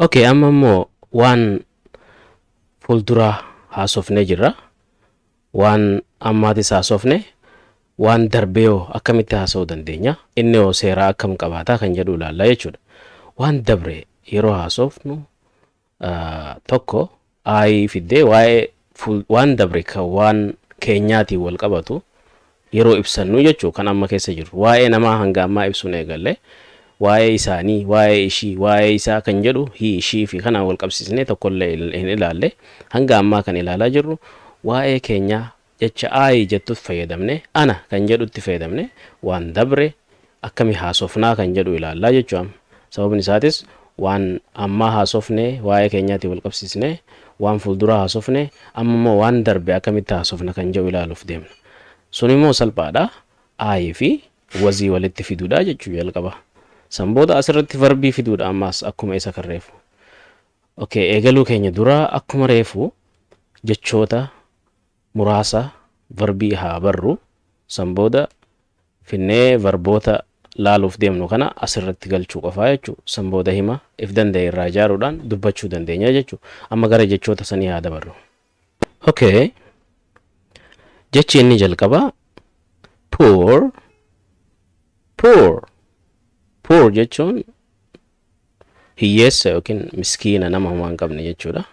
Okay, amma immoo waan fuulduraa haasofnee jirra. Waan ammaatis haasofne, waan darbee hoo akkamitti haasa'uu dandeenya? Inni hoo seeraa akkam qabaataa kan jedhu ilaalla jechuudha. Waan dabre yeroo haasofnu tokko I fiddee waa'ee fuul- waan dabre kan waan keenyaatiin wal qabatu yeroo ibsannu jechuu kan amma keessa jirru waa'ee namaa hanga ammaa ibsuun eegalle waa'ee isaanii waa'ee ishii waa'ee isaa kan jedhu hii ishii fi kanaan wal qabsiisnee tokkollee il- hin ilaalle hanga ammaa kan ilaalaa jirru waa'ee keenyaa Jecha I jettutt fayyadamne, ana kan jedhutti fayyadamne, waan dabre akkami haasofnaa kan jedhu ilaallaa jechu am. Sababni isaatis waan ammaa haasofne waa'ee keenyaatiin wal qabsiisne, waan fulduraa haasofne, amma immoo waan darbe akkamitti haasofna kan jedhu ilaaluuf deemna. Sun immoo salphaa dha, I fi was walitti fiduu dha jechu jalqaba. San booda as irratti verbii fiduu dha ammaas akkuma isa kan reefu. Okay, eegaluu keenya dura akkuma reefu jechoota muraasa varbii haa barru. San booda finnee varboota laaluuf deemnu kana asirratti galchuu qofaa jechuu. San booda hima if danda'e irraa ijaaruudhaan dubbachuu dandeenya jechuu. Amma gara jechoota sanii haa dabarru. Okay. Jechi inni jalqabaa poor poor poor jechuun hiyyeessa yookiin miskiina nama homaa hin qabne jechuudha.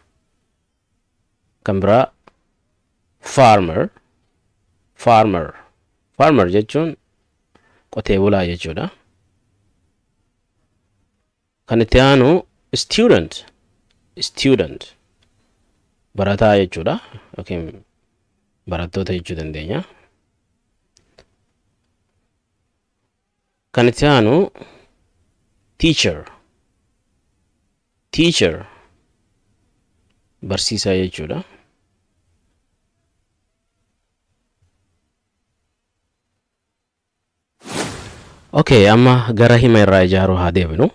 kan biraa farmer farmer farmer jechuun qotee bulaa jechuudha kan itti aanu student student barataa jechuudha yookiin barattoota jechuu dandeenya Kan itti aanu teacher teacher barsiisaa jechuudha. Okay, amma gara hima irraa ijaaruu haa deebinu.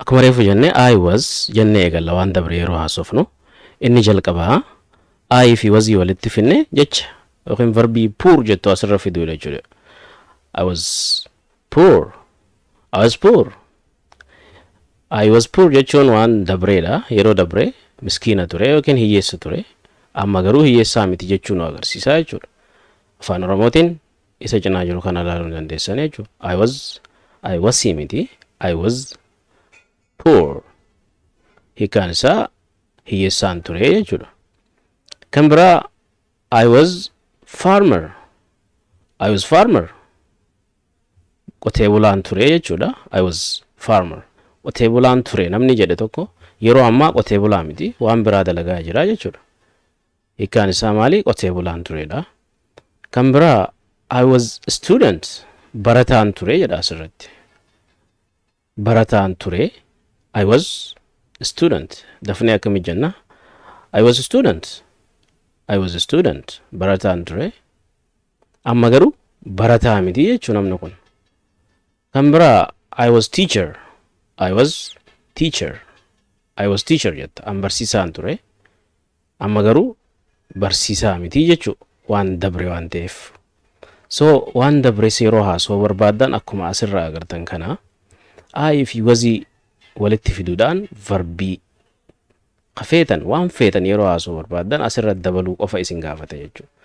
Akkuma reefu jenne I was jenne eegalla waan dabre yeroo haasofnu. Inni jalqabaa I fi wazii walitti finne jecha yookiin verbii poor jettu asirra fiduudha jechuudha. I was poor. I was poor. I was poor jechuun waan dabreedha. Yeroo dabre miskiina ture yookiin hiyyeessa ture. Amma garuu hiyyeessaa miti jechuun nu agarsiisa jechuudha. Afaan Oromootiin isa cinaa jiru kana ilaaluu ni dandeessan jechuudha. I was I was miti. I was poor. Hiikaan isaa hiyyeessaan ture jechuudha. Kan biraa I was farmer. I was farmer. Qotee bulaan ture jechuudha. I was farmer. Qotee bulaan ture namni jedhe tokko yeroo ammaa qotee bulaa miti waan biraa dalagaa jira jechuudha. Hiikkaan isaa maali? Qotee bulaan turedha. Kan biraa I was student barataan ture jedha asirratti. barataan ture I was student dafnee akkami jenna I was student I was student barataan ture amma garuu barataa miti jechuu namni kun kan biraa I was teacher I was teacher I was teacher jetta an barsiisaan ture Amma garuu barsiisaa miti jechuu waan dabre waan ta'eef. So waan dabres yeroo haasawuu barbaaddan akkuma asirraa agartan kana I fi was walitti fiduudhaan varbii ka feetan waan feetan yeroo haasawuu barbaaddan asirra dabaluu qofa isin gaafata jechuudha.